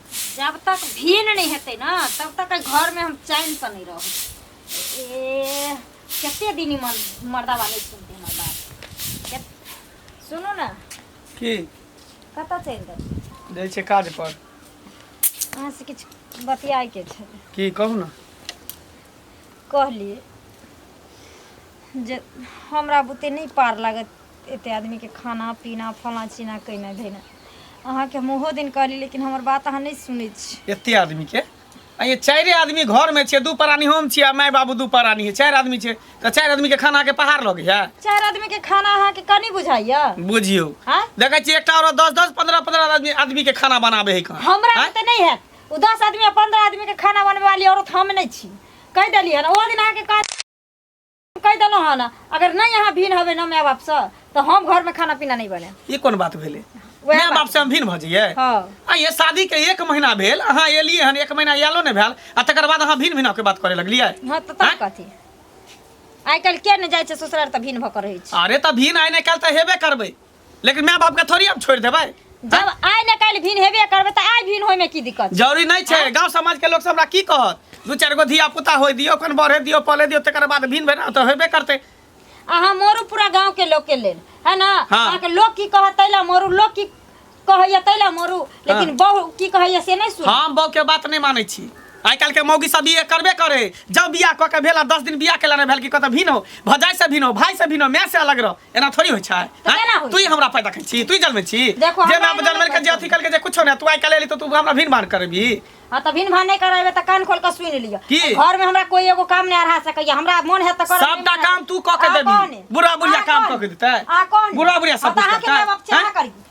जब तक भीन नहीं हेतै ना तब तक ए घर में हम चैन से नहीं रहब ए कते दिन ई मन मर्दा वाले सुनते हमर बात जब- सुनू ना की कतऽ चलि देब जाइ छै काज पर अहाँ से किछु बतियाए के छै की कहू ने कहलिए जे हमरा बुते नहि पार लागत एते आदमी के खाना पीना फला चीना कइना धइना अहाँ के हम ओहो दिन कहली लेकिन हमर बात अहाँ नहीं सुनै छी एते आदमी के आ ये चारि आदमी घर में छै दू परानी हम छी आ माय बाबू दू परानी है चारि आदमी छै तऽ चारि आदमी के खाना के पहाड़ लगे है चार आदमी के खाना अहाँ के कनी बुझाइया बुझियौ हाँ? देखै छी एकटा औरत दस दस पंद्रह पंद्रह आदमी आदमी के खाना बनाबे है कहाँ हमरा आँय? में तो नहीं है वो दस आदमी या पंद्रह आदमी के खाना बनवे वाली औरत हम नहीं छी कह दिलिए ना वो दिन अहाँ के कह कहि देलहुँ हँ ने अगर नहि यहाँ भिन हबे ना माय बाप से तो हम घर में खाना पीना नहीं बने ई कोन बात भेलै वएह माय बात बाप से हम भिन्न भऽ जइयै हाँ आ ये शादी के एक महीना भेल अहाँ एलियै हन एक महीना आयलो नहि भेल आ तकर बाद अहाँ भिन्न भिन्न के बात करे लगलियै हाँ तो तब कथी आइ काल्हि के ने जाइ छै ससुरार तऽ भिन भऽ के रहै छै अरे तऽ भिन्न आइ नहि काल्हि तऽ हेबे करबै लेकिन माय बाप के थोड़ी हम छोड़ देबै जब आइ ने काल्हि भिन हेबे करबै तऽ आइ भिन होइमे की दिक्कत छै? जरूरी नहीं छै गांव समाज के लोग सब हमरा की कहत दू चार गो धिया पुता होय दियो अपन बढ़े दियो पले दियो तकर बाद भिन भेना तो हेबे करते अहाँ मोरू पूरा गाँव के लोग के लेल है ना हाँ। अहाँ के लोग की कहत तैला मोरू लोग की कहैया तैला मोरू लेकिन बहु की कहैया से नहीं सुन हम बहू के बात नहीं मानै छी आइ काल्हि के मौगी सब ये करबे करे जब बियाह कऽ के भेला दस दिन बियाह केला नहि भेल कि कतऽ भिन हो भजाइ से भिन हो भाइ से भिन हो माय से अलग रह एना थोड़ी होइ छै तऽ हैं? केना होइ तू ही छै? हमरा पैदा कर छी तू ही जन्मे छी देखो, जे हमरा मैं एना जन्मे नहि के जे करतै। अथी कल के जे कुछो ना तू आइ काल्हि एली तो तू हमरा भीन भान करबी हाँ तऽ भिन भान नहि करेबे तऽ कान खोल के सुनि लिअ की? घर में हमरा कोई एगो काम नहीं अढ़ा सकैया हमरा मन है तऽ करब सबटा काम तू कऽ के देबी बुढ़ा बुढ़िया काम कऽ के देतै बुढ़ा बुढ़िया सब कुछ अहाँ के करतै माय बाप चाह हैं? करी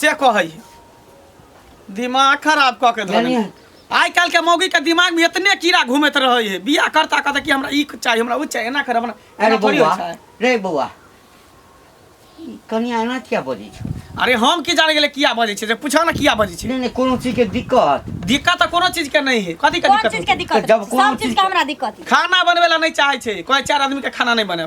से कहै है दिमाग खराब कऽ के धऽ जानिए लेलक। आइ काल्हि के मौगी के दिमाग में इतने कीड़ा घूमैत रहे है बियाह करता कहता कि हमरा ई चाहिए हमरा ओ चाहिए एना कर हमरा अरे एना थोड़ी बौआ होइ छै रे बौआ ई कनिया एना किया बजै छै अरे हम की जाने गेले किया बजै छै से पूछो ना किया बजै छै नहीं नहीं कोनो चीज के दिक्कत दिक्कत तऽ कोनो चीज के नहीं है कथी के कोन दिक्कत चीज के होतै? दिक्कत जब कोनो सब चीज चीज के के- हमरा दिक्कत है खाना बनबे ला नहीं चाहे छै कोई चार आदमी के खाना नहीं बने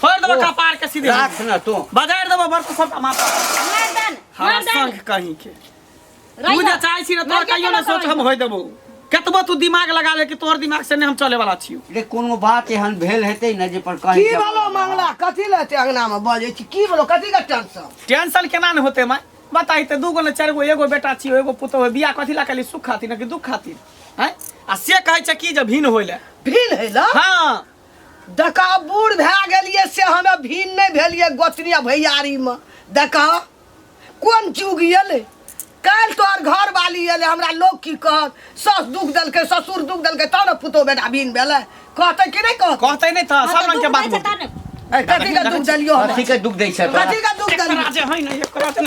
फोड़ देबो कपार के सीधे राख ना तू बजाड़ देबो बड़ सब माथा मर्दन हमारा मर्दन संग कहीं के रही तू जे बात। चाहे छी ना तोर मर्दन कहियो ना के सोच बात हम होय देबो कतबो तू दिमाग लगा ले कि तोर दिमाग से नहीं हम चले वाला छियो रे कोनो बात एहन भेल हेतै ने जे पर कहीं की के- बोलो मंगला कथी ले ते अंगना में बजे छी की बोलो कथी के टेंशन टेंशन केना ने होते माय बताई ते दूगो ने चार गो एगो बेटा छियो एगो पुतो है बियाह कथी ला कली सुख खातिर ना कि दुख खातिर हैं आ से कहै छै कि जे भिन होइले भीन है ला हाँ देखा बूढ़ भए गेलियै से हमे भिन्न नहि भेलियै गोतनिया भैयारीमे देखा कोन जुग एलै काल्हि तोहर घर वाली एलै हमरा लोक की कहत सास दुख देलकै ससुर दुख देलकै तब ने पुतहु बेटा भिन्न भेलै कहतै कि नहि कहतै कहते नहीं था सब रंग के बात बोलते। कथी के दुख देलियो हमरा? कथी के दुख दै छै तोरा? कथी के दुख देलियो एकरा जे है ना एकरा जे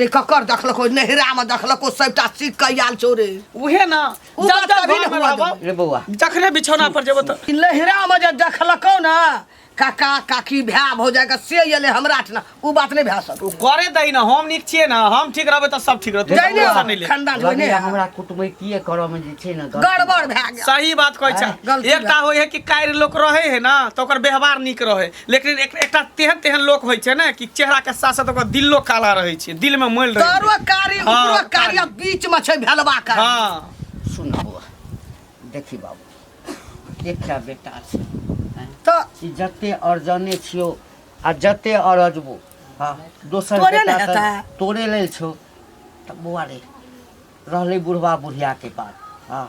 रे ककर देखलको नहिरा में देखलको सबटा सीख के आयल छौ रे उहे ना उ जब बात जब तभी घर में ने हुआ रहबो रे बौआ जखने बिछौना पर जेबो त ई नहिरा में जे देखलको ना काका काकी भै हो जाएगा से एले हमरा ठना उ बात नहीं भै सको करे दई ना हम नीक छिए ना हम ठीक रहबे त सब ठीक रहतै जाइने टेंशन नहीं ले खानदान में लगैया नहीं हमरा कुटमैतिये करऽ मे जे छै ने गलती। गड़बड़ भै गया सही बात कहै छै आँय, गलती एकटा होइ है कि कायर लोक रहै है ना त ओकर व्यवहार नीक रहै लेकिन एक, एकटा तेहन तेहन लोक होइ छै ने कि चेहरा के साथ साथ ओकर दिलो काला रहै छै दिल में मैल रहै तरो छै कारी हँ, उपरो कारी। कारी आ बीच में छै भेलवा कारी हाँ सुन बौआ देखी बाबू एकटा बेटा छै हैं? तो ई जते अर्जने छियो आ जते अरजबो हाँ दोसर तोरे बेटा ने तऽ हेतै। तोरे लेल छौ तऽ बौआ रे रहलै बुढ़वा बुढ़िया के बात हाँ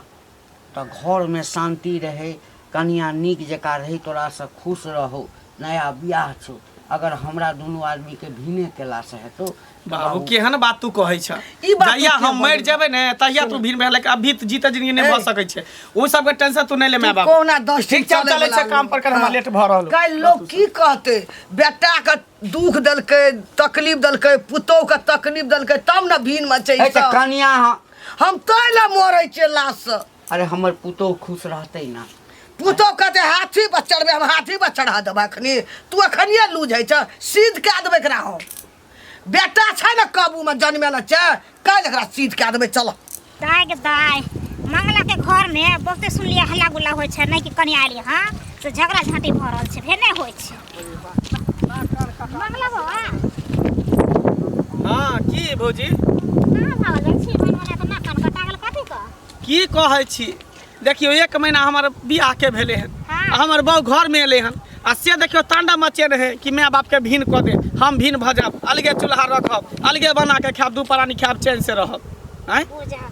तँ घरमे शान्ति रहै। कनियाँ नीक जकाँ रहै। तोरासँ खुश रहौ। नया बिआह छौ। अगर हमरा दुनू आदमीकेँ भिने केलासँ हेतौ तँ बाबू। बाबू, केहन बात तूँ कहै छेँ? ई बात तूँ जहिया किएक हम मरि बजै जेबै ने तहिया तूँ भिन भेलै। अभी तँ जीते जिनगी नहि भऽ ए। सकै छै। ओ सभके टेंशन तूँ नहि ले माय-बाप। कहुना दस ठीक दिन छै, हम चलै चलै बला छियै काम पर, कनि हमरा लेट भऽ रहल हौ। काल्हि लोक की कहतै? बेटाकेँ दुख देलकै, तकलीफ देलकै, पुतहुकेँ तकलीफ देलकै, तब ने भिन मचै हे तँ छौ। कनियाँ हँ। हम तै लए मरै छियै लाशसँ अरे हमर पुतोह खुश रहतै ने पुतोह कहतै हाथी पर चढ़बै हम हाथी पर चढ़ा देबै एखनी तू एखनिए लूझै छ सिद्ध कए देबै एकरा हम बेटा छै ने काबूमे जन्मे लए छै काल्हि एकरा सिद्ध कए देबै चल दाय के दाय मंगलाके घरमे बहुते सुनलियै हल्ला गुल्ला होइ छै नहि कि कनिया एलियै हँ तऽ झगड़ा झाँटी भऽ रहल छै फेर नहि होइ छै मंगला बाबा हँ की भौजी कहाँ भऽ गेल छी बनवला तऽ नाक कान कटा गेल कथी कऽ की कहै छी देखियौ एक महीना हमर बियाह के भेले हन हाँ। आ हमर बहू घर में एले हन आ से देखियौ तांडा मचे रहे कि माय बाप के भीन कऽ दे हम भीन भऽ जाब अलगे चूल्हा रखब अलगे बना के खायब दू परानी खायब चैन से रहब आँय बुझा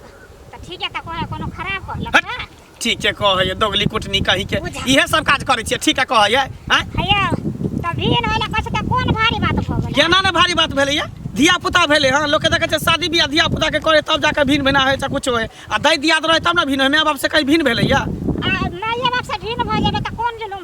तऽ ठीक है तऽ कोनो कोनो खराब कहलक हट। ना ठीक के कहैए दोगली कुटनी कहीं के बुझा। इहे सब काज करै छियै ठीक के कहैए आँय हैया तब भी न होला कछ त कोन भारी बात भ गेल केना ने भारी बात भेलैए धिया पुता भेलै हँ लोकके देखै छै शादी बियाह धिया पुताके करे तब जाके भिन भिना होइ छै कुछो होइ आ दै दियाद रहै तब ने भिन होइ माय बापसँ कहीं भिन भेलैए आ माय बाप से भिन्न भ जेबे त कोन जुलुम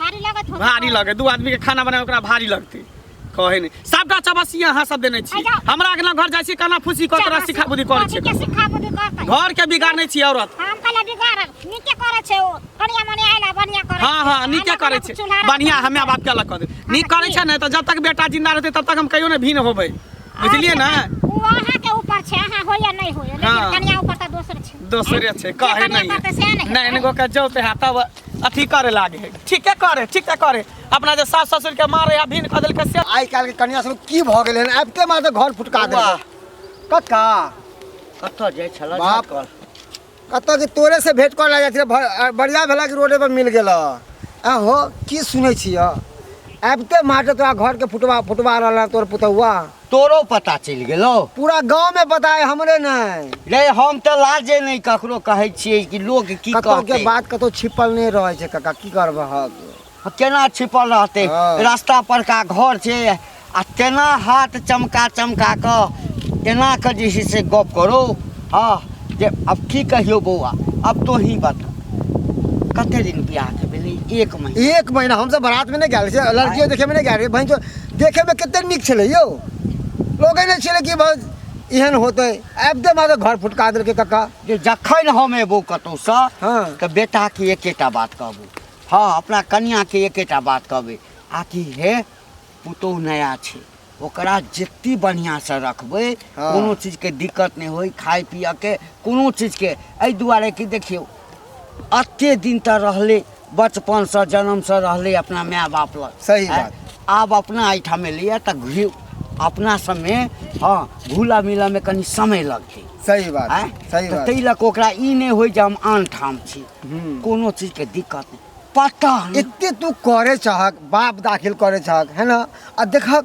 भारी लगत हो भारी लगे दू आदमी के खाना बनाए ओकरा भारी लगते कहे नहीं सबटा चबसी अहाँ सब देने छी अच्छा। हमरा अगला घर जाइ छी काना फूसी कर तोरा सिखा बुद्धि कर छै के सिखा बुद्धि करतै घर के बिगाड़ नहीं छी औरत हम कहले बिगाड़ नीके करे छै ओ कनिया मने आइला बढ़िया करे हाँ हाँ छै। नीके आइला करे बढ़िया छै चूल्हा रख- बढ़िया हमे बाप के अलग कर दे नीक करे छै ने तऽ जब तक बेटा जिंदा रहते तब तक हम कहियो ने भीन होबै बुझलिए ने ओ अहाँ के ऊपर छै अहाँ होइए नहि होइए लेकिन हाँ। कनिया ऊपर तऽ दोसर छै दोसरे छै जे कहे कनिया नहीं करतै सएह ने हेतै। नैन गो के जो पे हाथा अथी करे लागे है ठीके करे ठीके करे अपना जे सास ससुर के मारे या भीन कदल के से आइ काल्हि के कन्या सब की भऽ गेलै हन आबिते मार तऽ घर फुटका दे वाह। कक्का कतऽ जाइ छल बाप। कतऽ कि तोरे से भेंट कर लगा छै बढ़िया भेला कि रोडे पर मिल गेल आ हो की सुनै छिय आबिते मार तऽ तोरा घर के फुटवा फुटवा रहल हन तोर पुतौआ तोरो पता चलि गेलो पूरा गांव में पता है हमरे नहीं रे हम तो लाजे नहीं ककरो कहे छिए कि लोग की कतो कहते के बात कतो छिपल नहीं रहे छै काका की करबह हाँ, केना छिपल रहते हाँ। रास्ता पर का घर छे आ तेना हाथ चमका चमका क एना क जे छै से गप करो हाँ जे अब की कहियो बौआ अब तो ही बता कते दिन बियाह के भेलै एक महीना एक महीना हम सब बारात में नहीं गए लड़कियों देखे में नहीं गए भाई जो देखैमे कतेक नीक छलै यौ लगै नहि छलै कि बस एहन होतै आबिते मारे घर फुटका देलकै कक्का जे जखन हम एबो कतहुसँ हँ। तऽ बेटाके एकेटा बात कहबू हँ अपना कनियाके एकेटा बात कहबै आ कि हे पुतोहु नया छै ओकरा जते बढ़िआँसँ रखबै हँ। कोनो चीजके दिक्कत नहि होय खाय पियऽके कोनो चीजके एहि दुआरे कि देखियौ एते दिन तऽ रहलै बचपनसँ जन्मसँ रहलै अपना माय बाप लग सही बात आब अपना एहिठाम एलैए तऽ घी अपना सबमे हँ घुला मिलऽमे कनि समय लगतै सही बात आँय? सही तऽ बात ताहि लऽ कऽ ओकरा ई नहि होय जे हम आन ठाम छी हम्म। कोनो चीजके दिक्कत नहि पता नहि एते तू करे चाहक बाप दाखिल करे चाहक है ना आ देखक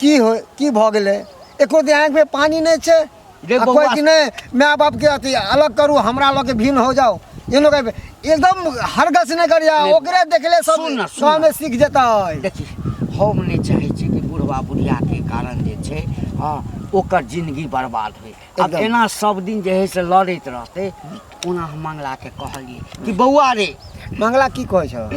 की हो की भऽ गेलै एको दिन आँखिमे पानि नहि छै रे आ कोई बौआ कि नहीं माय बाप के अथी अलग करू हमरा लोग के भिन्न हो जाओ ये लोग के- एकदम हरगस नहीं करिया नहीं। ओकरे देखले सब सुन ना, सुन गाँव ना। में सीख जेता है देखी हम नहि चाहै छी कि बुढ़वा बुढ़िया के कारण जे छै हँ ओकर जिंदगी बर्बाद होइ आब एकदम। एना सब दिन जे है से लड़ैत रहतै ओना हम मंगलाके कहलिए कि बौआ रे मंगला की कहै छौ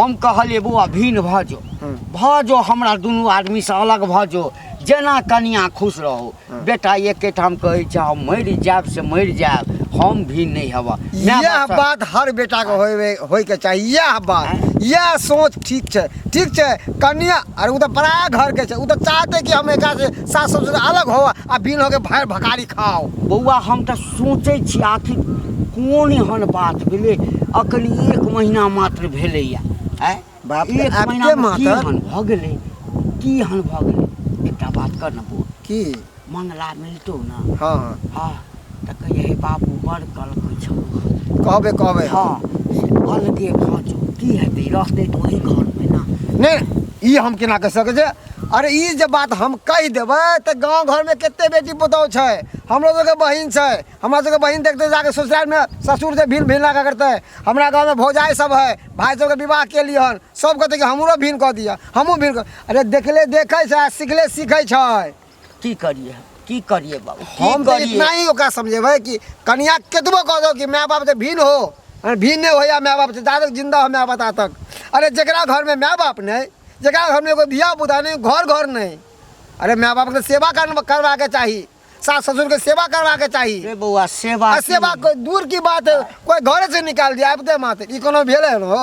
हम कहलिए बौआ भिन्न भऽ जो हूँ। भऽ जो हमरा दुनू आदमीसँ अलग भऽ जो जेना कनिया खुश रहू हूँ। बेटा एकेटा हम कहै छी हम मरि जायब से मरि जायब हम भी नहि हेबह माय यह बाप सब- बात हर बेटा के होय होय के चाही यह बात यह सोच ठीक छै ठीक छै कन्या अरे उ तऽ पराया घर के छै उ तऽ चाहते कि हम एकरा से सास ससुर से अलग हो आ बिन होके भर भकारी खाओ बौआ हम तऽ सोचै छी आखिर कोन एहन बात भेलै अखन एक महीना मात्र भेलैया आय बाप एक महीना भऽ गेलै की एहन भऽ गेलै एकटा बात कर ने बोल की मंगला मिलतौ ने हँ हँ तऽ कहिए हे बाबू बड़ कलकै छौ कहबे कहबे हँ अलगे भऽ जो की हेतै रहतै तऽ ओही घरमे ने नहि ई हम केना कहि सकै छै अरे ई जे बात हम कहि देबै तऽ गाँव घरमे कते बेटी पुतहु छै हमरो सबके बहिन छै हमरा सबके बहिन देखतै जाके ससुरालमे ससुर जे भिन भिन लगा करतै हमरा गाँवमे भौजाइ सब है भाइ सबके विवाह केली हन सब कहतै कि हमरो भिन कऽ दिअ हमहूँ भिन अरे देखले देखै छै सिखले सीखै छै की करिए हम? की करिए बाबू की हम तो करिए इतना ही ओकरा समझेबै कि कनिया केतबो कह दो कि माय बाप से भिन्न हो अरे भिन्न नहीं होया माय बाप से दादक जिंदा हो माय बता तक अरे जकरा घर में माय बाप नहीं जकरा घर में कोई धिया पुता नहीं घर घर नहीं अरे माय बाप के सेवा कर, करवा के चाही सास ससुर के सेवा करवा के चाही रे बौआ सेवा आ सेवा कोई दूर की बात है कोई घर से निकाल दिया आबिते मात्र ई कोनो भेलै हन हो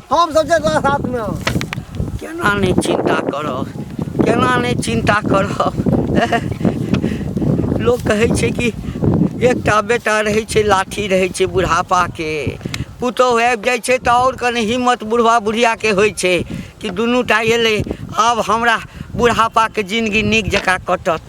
हम सब चल साथ में केना नहीं चिंता करब केना नहीं चिंता करब लोग कहे छे कि एक बेटा रहे छे लाठी रहे छे बुढ़ापा के पुतोह आबि जाइ छै तऽ आओर कनि हिम्मत बुढ़वा बुढ़ियाके होइ छै कि दुनू टा एलै आब हमरा बुढ़ापाके जिनगी नीक जकाँ कटत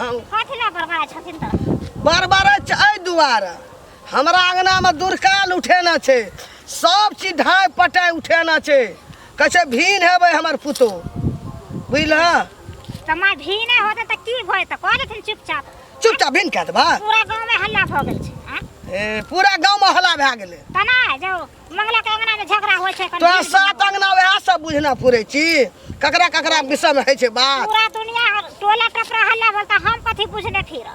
कथी ला बड़बड़ा छथिन तऽ बड़बड़े छै एहि दुआरे हमरा अङ्गनामे दुरकाल उठेना छै सब चीज ढाइ पटाइ उठेना छै कहै छै भीन हेबै हमर पुतो बुझलह तऽ माय भी नहि होतै तऽ की भय तऽ कह देथिन चुपचाप चुपचाप भीन कए देबा पूरा गाँवमे हल्ला भऽ गेल छै आँय? ए, पूरा गाँवमे हल्ला भए गेलै तऽ नहि जाउ मंगला के अंगना में झगड़ा होय छै कनी तोरा सात अंगना वएह सब बुझना फुरे छी ककरा ककरा विषय में है छै बात पूरा दुनिया हर- टोला टपरा हल्ला बोलता हम कथी बुझने फिर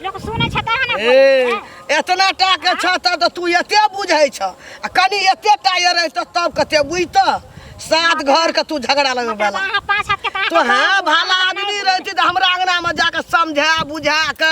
लोग सुने छै तहन ने बोलै ए छै। एतना टा के छ त त तू एते बुझै छ आ कनी एते टा ये रह त तब कते बुझत सात घर के तू झगड़ा लगे मतलब वाला अहाँ पाँच हाथ के तऽ अहाँ तो के हाँ बाबू, भला अहाँ आदमी नहि रहती तो हमरा अंगना में जाके समझा बुझा के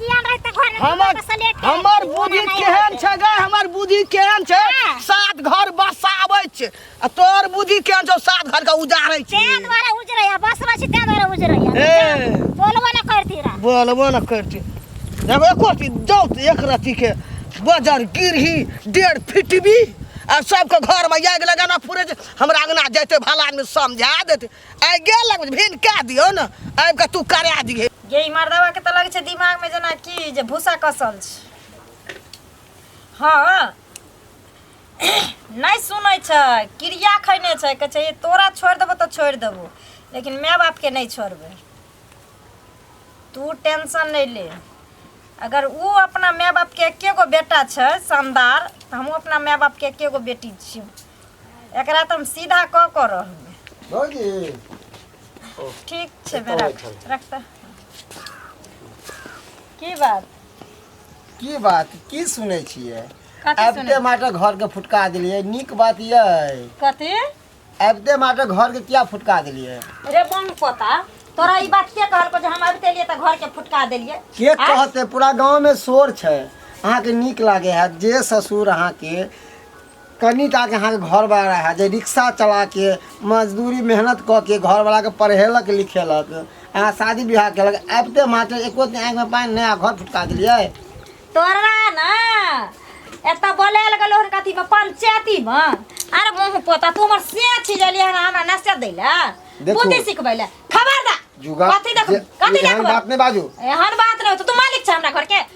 पियान रहै तऽ घर हमर हमर बुद्धि केहन छै गे हमर बुद्धि केहन छै हाँ। सात घर बसाबै छै आ तोर बुद्धि केहन छौ सात घर के उजाड़ै छै तें द्वारा उजरै या बसबै छी तें द्वारा उजरै या ए। बोलबो न करती रह बोलबो न करती जब एको रति जाउ तऽ एक रति के बजर गिरही डेढ़ फिटबी आ सबके घर में आगि लगाना पूरे जे हमरा अंगना जैते भला आदमी समझा देते आइ गेल लग भिन कए दियो ने आबि कऽ तू करा दिहे गे ई मर्दवा के तऽ लगै छै दिमाग में जेना की जे भूसा कसल छै हाँ नहि सुनै छै क्रिया खैने छै कहै छै तोरा छोड़ि देबो तऽ छोड़ि देबो लेकिन माय बाप के नहि छोड़बै तू टेंशन नहि ले अगर ओ अपना माय बाप के एके गो बेटा छै शानदार तऽ हमहूँ अपना माय बाप के एके गो बेटी छियै एकरा तो हम सीधा क कर रहूँ भौजी ठीक छे मैं रख रखता की बात की बात की सुनै छियै कथी आबिते सुनै माटे घर के फुटका देलियै नीक बात ये कथी आबिते माटे घर के किया फुटका देलियै रे बम पोता तोरा ई बात के कहलको जे हम अबते लिए त घर के फुटका देलिए के आँय? कहते पूरा गांव में शोर छै अहाँके नीक लागे है जे ससुर अहाँके कनि टाके अहाँके घरवला रहए जे रिक्शा चला के मजदूरी मेहनत कऽ के घरवलाके पढ़ेलक लिखेलक अहाँ शादी विवाह केलक आबिते मात्र एको दिन आँखिमे पानि नहि आ घर फुटका देलियै तोरा ने एतऽ बोलायल गेलो हन कथी में पंचायती में अरे मुँह पोता तू हमर से छी जलिए हन हमरा नशा दै ले देखू। बुद्धि सिखबै ले खबरदार जुगा कथी देख जे- कथी एहन देखबै बात नहि बाजू एहन बात नहि होतौ तू मालिक छ हमरा घर के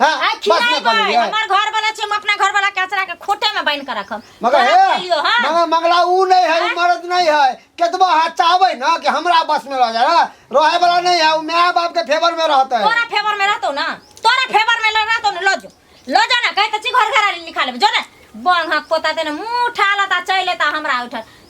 हां आ बस खिलाई ना कर भाई लिया हमार घर वाला छी हम अपना घर वाला के अचरा के खोटे में बांध के रखब मगर तोरा हे खइलियो, हाँ? मगर मगला ऊ नहीं है ऊ मर्द नहीं है केतबा हाथ चाहबे ना कि हमरा बस में रह जाए रहे वाला नहीं है ऊ माय बाप के फेवर में रहते है तोरा फेवर में रहतो ना तोरा फेवर में रहतो ना लजो लजो ना कहे त छी घर घर लिखा लेब जो ना बंग हक पोता देने मुंह उठा लता चले ता हमरा उठल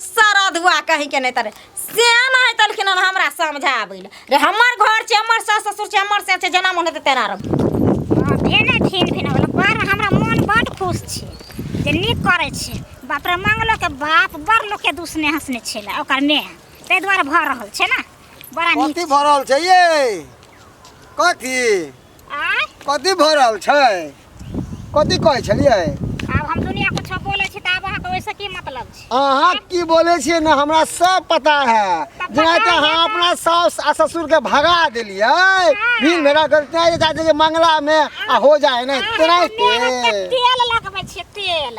सरधुआ कहीं के नहीं तरे श्याम है तलखिन हन हमरा समझाबे ले रे हमर घर छे हमर सास ससुर छे हमर से छे जना मन हेते तेना रह हाँ, भेने फिन फिन होलो पर हमरा मन बड खुश छी जे नीक करै छी बाप रे मंगलो के बाप बड़ लोग के दुसने हंसने छेला ओकर में ताहि दुआरे भऽ रहल छै ने बड़ा नीक कथी भरल छै ये कथी आय कथी भऽ रहल छै कथी कहै छलियै आब हम दुनिया कुछ बोले छी तऽ आब अहाँ के ओइसे की मतलब छै अहाँ की बोले छियै ने हमरा सब पता है जेना कि अहाँ अपना साउस आ ससुर के भगा देलियै भीड़ भेड़ा करते हैं चाहते कि मंगला में आ हो जाए ने तेनाहिते तेल लगबै छियै तेल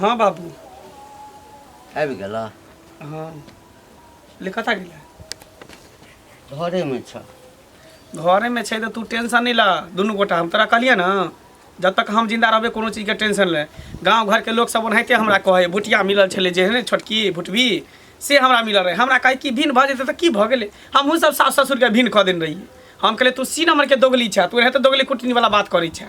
हाँ बाबू आबि गेल हाँ ले कतऽ गेलै घरेमे छ घरेमे छै तऽ तू टेंशन नहि लऽ दुनू गोटा हम तोरा कहलियै ने जब तक हम जिंदा रहबै कोनो चीजके टेंशन ले गाँव घरके लोक सब ओनाहिते हमरा कहै भुटिया मिलल छलै जे ने छोटकी भुटबी से हमरा मिलल रहै हमरा कहै कि भिन भऽ जेतै तऽ की भऽ गेलै हमहूँ सब सास ससुरके भिन कऽ देने रहियै हम कहलियै तू सी नम्बरके दोगली छऽ तू एनाहिते दोगली कुटनीवला बात करै छऽ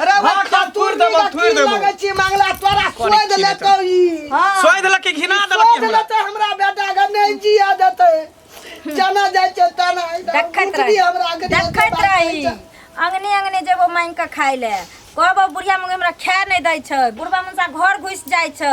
अरे वो हाँ, का तूर देबो, का तूर की देबो। लगै छी मंगला तोरा कोने सोध की लेतौ ई हाँ। सोई देलक कि घिना देलक कि सोध हमरा लेतौ हमरा बेटा के नै जिया देतै जना जाइ छै तना देखैत रही हमरा के देखैत रही अंगने अंगने जेबो मांगि कऽ खाय ले कहबो बुढ़िया मुँह हमरा खाए नहि दै छै बुढ़बा मुँहसा घर घुसि जाइ छै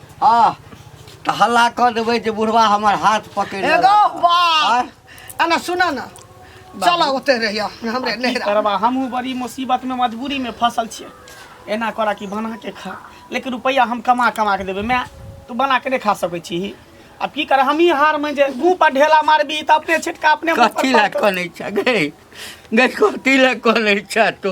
हाँ तऽ हल्ला कऽ देबै जे बुढ़वा हमर हाथ पकड़ि एगो लेलक। बात एना सुना ना चला ओते रहिया हमरे की नहरा करबा हमहूँ बड़ी मुसीबत में मजबूरी में फसल छियै एना करा कि बना के खा लेकिन रुपैआ हम कमा कमा के देबै माय तू बना के नहि खा सकै छी आब की कर हमही हार में जे मुँह पर ढेला मारबी तऽ अपने छिटका अपने मुँह पर कथी लए पड़तौ। कनै छ गै गै कथी लए कनै छ तू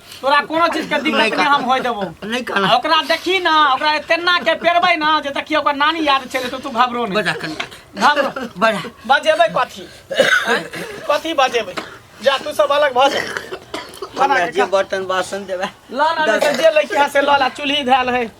तोरा कोनो चीज के दिक्कत नहीं हम होय देबो नहीं कहना आ ओकरा देखी ना ओकरा तेना के पेरबै ना जे देखी ओकर नानी याद चले तो तू घबरो नहीं बड़ा कन घबरो बड़ा बजेबै कथी आँय? कथी बजेबै जा तू सब अलग भऽ जा बना हमरा के जे खा। बर्तन बासन देबे लऽ ला नहि तऽ जे लैके है से लऽ ला चूल्ही धैल है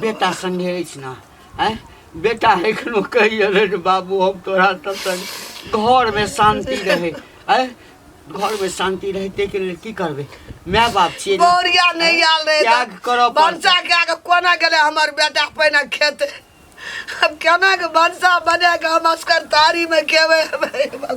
बेटा संगे अछि ना आय बेटा एखनो कहि अरे रे बाबू हम तोरा तब तक घर में शांति रहे आय घर में शांति रहे ते के लेल की करबे माय बाप छियै ना। बौरिया नहीं आल रहे त्याग करऽ पड़तै। भनसा के आगे कोना गेले हमर बेटा पहिने खेत अब केना के भनसा बना के हम असकर तारी में खेबे हे भगवान